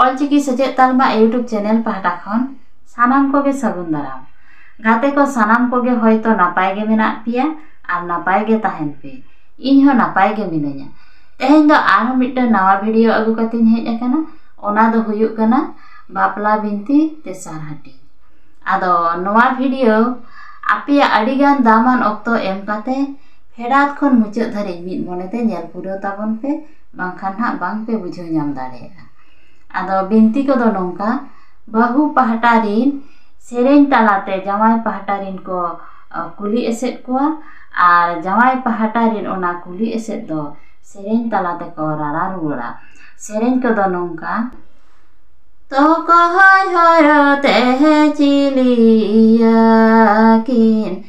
ᱚᱞ ᱪᱤᱠᱤ ᱥᱮᱪᱮᱫ ᱛᱟᱞᱢᱟ YouTube channel ᱯᱟᱦᱴᱟ ᱠᱷᱚᱱ ᱥᱟᱱᱟᱢ ᱠᱚᱜᱮ ᱥᱟᱹᱜᱩᱱ ᱫᱟᱨᱟᱢ ᱜᱟᱛᱮ ᱠᱚ ᱥᱟᱱᱟᱢ ᱠᱚᱜᱮ ᱦᱚᱭᱛᱚ ᱱᱟᱯᱟᱭ ᱜᱮ ᱢᱮᱱᱟᱜ ᱯᱮᱭᱟ ᱟᱨ ᱱᱟᱯᱟᱭ ᱜᱮ ᱛᱟᱦᱮᱱ ᱯᱮ ᱤᱧ ᱦᱚᱸ ᱱᱟᱯᱟᱭ ᱜᱮ ᱢᱤᱱᱟᱹᱧᱟ ᱛᱮᱦᱮᱧ ᱫᱚ ᱟᱨᱦᱚᱸ ᱢᱤᱫᱴᱟᱝ ᱱᱟᱣᱟ ᱵᱷᱤᱰᱤᱭᱳ ᱟᱹᱜᱩ ᱠᱟᱛᱮᱧ ᱦᱮᱡ ᱟᱠᱟᱱᱟ ᱚᱱᱟ ᱫᱚ ᱦᱩᱭᱩᱜ ᱠᱟᱱᱟ ᱵᱟᱯᱞᱟ ᱵᱤᱱᱛᱤ ᱛᱮᱥᱟᱨ ᱦᱟᱹᱴᱤᱧ ᱟᱫᱚ ᱱᱚᱣᱟ ᱵᱷᱤᱰᱤᱭᱳ ᱟᱯᱮᱭᱟᱜ ᱟᱹᱰᱤ ᱜᱟᱱ ᱫᱟᱢᱟᱱ ᱚᱠᱛᱚ ᱮᱢ ᱠᱟᱛᱮ ᱯᱷᱮᱰᱟᱛ ᱠᱷᱚᱱ ᱢᱩᱪᱟᱹᱫ ᱫᱷᱟᱹᱨᱤᱡ ᱢᱤᱫ ᱢᱚᱱᱮ ᱛᱮ ᱧᱮᱞ ᱯᱩᱨᱟᱹᱣ ᱛᱟᱵᱚᱱ ᱯᱮ ᱵᱟᱝᱠᱷᱟᱱ ᱦᱟᱸᱜ ᱵᱟᱝ ᱯᱮ ᱵᱩᱡᱷᱟᱹᱣ ᱧᱟᱢ ᱫᱟᱲᱮᱭᱟᱜᱼᱟ ᱟᱫᱚ ᱵᱤᱱᱛᱤ ᱠᱚᱫᱚ ᱱᱚᱝᱠᱟ ᱵᱟᱹᱦᱩ ᱯᱟᱦᱴᱟ ᱨᱤᱱ ᱥᱮᱨᱮᱧ ᱛᱟᱞᱟᱛᱮ ᱡᱟᱶᱟᱭ ᱯᱟᱦᱴᱟ ᱨᱤᱱ ᱠᱚ ᱠᱩᱞᱤ ᱮᱥᱮᱫ ᱠᱚᱣᱟ ᱟᱨ ᱡᱟᱶᱟᱭ ᱯᱟᱦᱴᱟ ᱨᱤᱱ ᱚᱱᱟ ᱠᱩᱞᱤ ᱮᱥᱮᱫ ᱫᱚ ᱥᱮᱨᱮᱧ ᱛᱟᱞᱟ ᱛᱮᱠᱚ ᱨᱟᱨᱟ ᱨᱩᱣᱟᱹᱲᱟ ᱥᱮᱨᱮᱧ ᱠᱚᱫᱚ ᱱᱚᱝᱠᱟ ᱛᱚᱠᱚᱭ ᱦᱚᱨᱚ ᱛᱮ ᱪᱤᱞᱤᱭᱟᱠᱤᱱ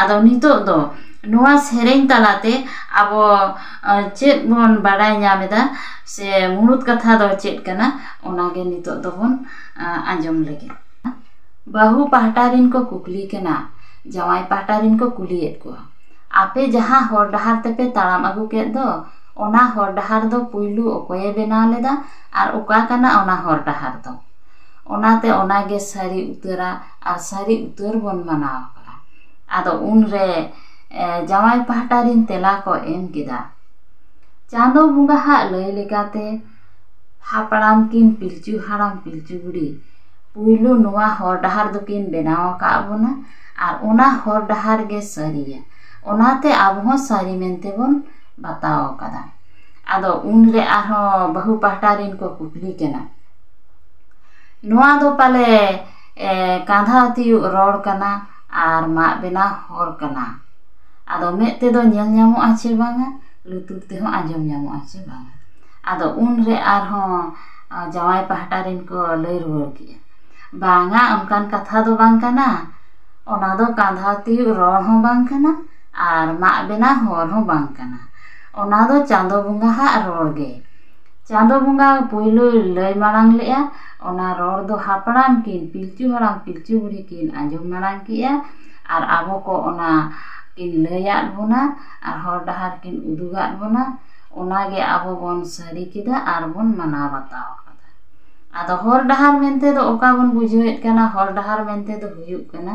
ᱟᱫᱚ ᱱᱤᱛᱚᱜ ᱫᱚ ᱱᱚᱣᱟ ᱥᱮᱨᱮᱧ ᱛᱟᱞᱟᱛᱮ ᱟᱵᱚ ᱪᱮᱫ ᱵᱚᱱ ᱵᱟᱲᱟᱭ ᱧᱟᱢ ᱮᱫᱟ ᱥᱮ ᱢᱩᱬᱩᱫ ᱠᱟᱛᱷᱟ ᱫᱚ ᱪᱮᱫ ᱠᱟᱱᱟ ᱚᱱᱟᱜᱮ ᱱᱤᱛᱚᱜ ᱫᱚᱵᱚᱱ ᱟᱸᱡᱚᱢ ᱞᱮᱜᱮ ᱵᱟᱹᱦᱩ ᱯᱟᱦᱴᱟ ᱨᱮᱱ ᱠᱚ ᱠᱩᱠᱞᱤ ᱠᱟᱱᱟ ᱡᱟᱶᱟᱭ ᱯᱟᱦᱴᱟ ᱨᱮᱱ ᱠᱚ ᱠᱩᱞᱤᱭᱮᱫ ᱠᱚᱣᱟ ᱟᱯᱮ ᱡᱟᱦᱟᱸ ᱦᱚᱨ ᱰᱟᱦᱟᱨ ᱛᱮᱯᱮ ᱛᱟᱲᱟᱢ ᱟᱹᱜᱩ ᱠᱮᱫ ᱫᱚ ᱚᱱᱟ ᱦᱚᱨ ᱰᱟᱦᱟᱨ ᱫᱚ ᱯᱳᱭᱞᱳ ᱚᱠᱚᱭᱮ ᱵᱮᱱᱟᱣ ᱞᱮᱫᱟ ᱟᱨ ᱚᱠᱟ ᱠᱟᱱᱟ ᱚᱱᱟ ᱦᱚᱨ ᱰᱟᱦᱟᱨ ᱫᱚ ᱚᱱᱟᱛᱮ ᱚᱱᱟᱜᱮ ᱥᱟᱹᱨᱤ ᱩᱛᱟᱹᱨᱟᱜ ᱟᱨ ᱥᱟᱹᱨᱤ ᱩᱛᱟᱹᱨ ᱵᱚᱱ ᱢᱟᱱᱟᱣ ᱟᱠᱟᱫᱼᱟ ᱟᱫᱚ ᱩᱱ ᱨᱮ ᱡᱟᱶᱟᱭ ᱯᱟᱦᱴᱟ ᱨᱮᱱ ᱛᱮᱞᱟ ᱠᱚ ᱮᱢ ᱠᱮᱫᱟ ᱪᱟᱸᱫᱚ ᱵᱚᱸᱜᱟ ᱦᱟᱜ ᱞᱟᱹᱭ ᱞᱮᱠᱟᱛᱮ ᱦᱟᱯᱲᱟᱢ ᱠᱤᱱ ᱯᱤᱞᱪᱩ ᱦᱟᱲᱟᱢ ᱯᱤᱞᱪᱩ ᱵᱩᱲᱦᱤ ᱯᱩᱭᱞᱩ ᱱᱚᱣᱟ ᱦᱚᱨ ᱰᱟᱦᱟᱨ ᱫᱚᱠᱤᱱ ᱵᱮᱱᱟᱣ ᱟᱠᱟᱫ ᱵᱚᱱᱟ ᱟᱨ ᱚᱱᱟ ᱦᱚᱨ ᱰᱟᱦᱟᱨ ᱜᱮ ᱥᱟᱹᱨᱤᱭᱟ ᱚᱱᱟᱛᱮ ᱟᱵᱚ ᱦᱚᱸ ᱥᱟᱹᱨᱤ ᱢᱮᱱᱛᱮ ᱵᱚᱱ ᱵᱟᱛᱟᱣ ᱟᱠᱟᱫᱟ ᱟᱫᱚ ᱩᱱ ᱨᱮ ᱟᱨᱦᱚᱸ ᱵᱟᱹᱦᱩ ᱯᱟᱦᱴᱟ ᱨᱮᱱ ᱠᱚ ᱠᱩᱠᱞᱤ ᱠᱟᱱᱟ ᱱᱚᱣᱟ ᱫᱚ ᱯᱟᱞᱮ ᱠᱟᱸᱫᱷᱟ ᱛᱤᱭᱳᱜ ᱨᱚᱲ ᱠᱟᱱᱟ ᱟᱨ ᱢᱟᱜ ᱵᱮᱱᱟᱣ ᱦᱚᱨ ᱠᱟᱱᱟ ᱟᱫᱚ ᱢᱮᱫ ᱛᱮᱫᱚ ᱧᱮᱞ ᱧᱟᱢᱚᱜ ᱟᱥᱮ ᱵᱟᱝᱟ ᱞᱩᱛᱩᱨ ᱛᱮᱦᱚᱸ ᱟᱸᱡᱚᱢ ᱧᱟᱢᱚᱜ ᱟᱥᱮ ᱵᱟᱝᱟ ᱟᱫᱚ ᱩᱱᱨᱮ ᱟᱨᱦᱚᱸ ᱡᱟᱶᱟᱭ ᱯᱟᱦᱴᱟ ᱨᱮᱱ ᱠᱚ ᱞᱟᱹᱭ ᱨᱩᱣᱟᱹᱲ ᱠᱮᱫᱼᱟ ᱵᱟᱝᱟ ᱚᱱᱠᱟᱱ ᱠᱟᱛᱷᱟ ᱫᱚ ᱵᱟᱝ ᱠᱟᱱᱟ ᱚᱱᱟ ᱫᱚ ᱠᱟᱸᱫᱷᱟ ᱛᱤᱭᱳᱜ ᱨᱚᱲ ᱦᱚᱸ ᱵᱟᱝ ᱠᱟᱱᱟ ᱟᱨ ᱢᱟᱜ ᱵᱮᱱᱟᱣ ᱦᱚᱨ ᱦᱚᱸ ᱵᱟᱝ ᱠᱟᱱᱟ ᱚᱱᱟ ᱫᱚ ᱪᱟᱸᱫᱳ ᱵᱚᱸᱜᱟ ᱦᱟᱜ ᱨᱚᱲ ᱜᱮ ᱪᱟᱸᱫᱳ ᱵᱚᱸᱜᱟ ᱯᱳᱭᱞᱳᱭ ᱞᱟᱹᱭ ᱢᱟᱲᱟᱝ ᱞᱮᱫᱼᱟ ᱚᱱᱟ ᱨᱚᱲ ᱫᱚ ᱦᱟᱯᱲᱟᱢ ᱠᱤᱱ ᱯᱤᱞᱪᱩ ᱦᱟᱲᱟᱢ ᱯᱤᱞᱪᱩ ᱵᱩᱲᱦᱤ ᱠᱤᱱ ᱟᱸᱡᱚᱢ ᱢᱟᱲᱟᱝ ᱠᱮᱫᱼᱟ ᱟᱨ ᱟᱵᱚ ᱠᱚ ᱚᱱᱟ ᱠᱤᱱ ᱞᱟᱹᱭᱟᱫ ᱵᱚᱱᱟ ᱟᱨ ᱦᱚᱨ ᱰᱟᱦᱟᱨ ᱠᱤᱱ ᱩᱫᱩᱜᱟᱫ ᱵᱚᱱᱟ ᱚᱱᱟ ᱜᱮ ᱟᱵᱚ ᱵᱚᱱ ᱥᱟᱹᱨᱤ ᱠᱮᱫᱟ ᱟᱨ ᱵᱚᱱ ᱢᱟᱱᱟᱣ ᱵᱟᱛᱟᱣ ᱟᱠᱟᱫᱟ ᱟᱫᱚ ᱦᱚᱨ ᱰᱟᱦᱟᱨ ᱢᱮᱱᱛᱮ ᱫᱚ ᱚᱠᱟ ᱵᱚᱱ ᱵᱩᱡᱷᱟᱹᱣᱮᱫ ᱠᱟᱱᱟ ᱦᱚᱨ ᱰᱟᱦᱟᱨ ᱢᱮᱱᱛᱮ ᱫᱚ ᱦᱩᱭᱩᱜ ᱠᱟᱱᱟ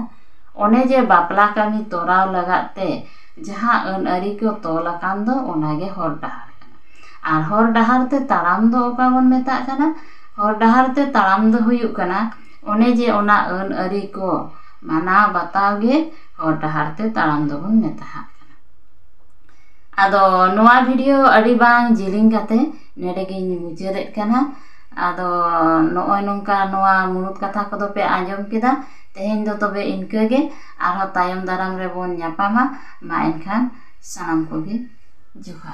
ᱚᱱᱮ ᱡᱮ ᱵᱟᱯᱞᱟ ᱠᱟᱹᱢᱤ ᱛᱚᱨᱟᱣ ᱞᱟᱜᱟᱫ ᱛᱮ ᱡᱟᱦᱟᱸ ᱟᱹᱱ ᱟᱹᱨᱤ ᱠᱚ ᱛᱚᱞ ᱟᱠᱟᱱ ᱫᱚ ᱚᱱᱟ ᱜᱮ ᱦᱚᱨ ᱰᱟᱦᱟᱨ ᱠᱟᱱᱟ ᱟᱨ ᱦᱚᱨ ᱰᱟᱦᱟᱨ ᱛᱮ ᱛᱟᱲᱟᱢ ᱫᱚ ᱚᱠᱟ ᱵᱚᱱ ᱢᱮᱛᱟᱜ ᱠᱟᱱᱟ ᱦᱚᱨ ᱰᱟᱦᱟᱨ ᱛᱮ ᱛᱟᱲᱟᱢ ᱫᱚ ᱦᱩᱭᱩᱜ ᱠᱟᱱᱟ ᱚᱱᱮ ᱡᱮ ᱚᱱᱟ ᱟᱹᱱ ᱟᱹᱨᱤ ᱠᱚ ᱢᱟᱱᱟᱣ ᱵᱟᱛᱟᱣ ᱜᱮ ᱦᱚᱨ ᱰᱟᱦᱟᱨ ᱛᱮ ᱛᱟᱲᱟᱢ ᱫᱚᱵᱚᱱ ᱢᱮᱛᱟᱣᱟᱜ ᱠᱟᱱᱟ ᱟᱫᱚ ᱱᱚᱣᱟ ᱵᱷᱤᱰᱤᱭᱳ ᱟᱹᱰᱤ ᱵᱟᱝ ᱡᱤᱞᱤᱧ ᱠᱟᱛᱮ ᱱᱚᱰᱮ ᱜᱮᱧ ᱢᱩᱪᱟᱹᱫᱮᱜ ᱠᱟᱱᱟ ᱟᱫᱚ ᱱᱚᱜᱼᱚᱭ ᱱᱚᱝᱠᱟ ᱱᱚᱣᱟ ᱢᱩᱬᱩᱫ ᱠᱟᱛᱷᱟ ᱠᱚᱫᱚ ᱯᱮ ᱟᱸᱡᱚᱢ ᱠᱮᱫᱟ ᱛᱮᱦᱮᱧ ᱫᱚ ᱛᱚᱵᱮ ᱤᱱᱠᱟᱹ ᱜᱮ ᱟᱨᱦᱚᱸ ᱛᱟᱭᱚᱢ ᱫᱟᱨᱟᱢ ᱨᱮᱵᱚᱱ ᱧᱟᱯᱟᱢᱟ ᱢᱟ ᱮᱱᱠᱷᱟᱱ ᱥᱟᱱᱟᱢ ᱠᱚᱜᱮ ᱡᱚᱦᱟᱨ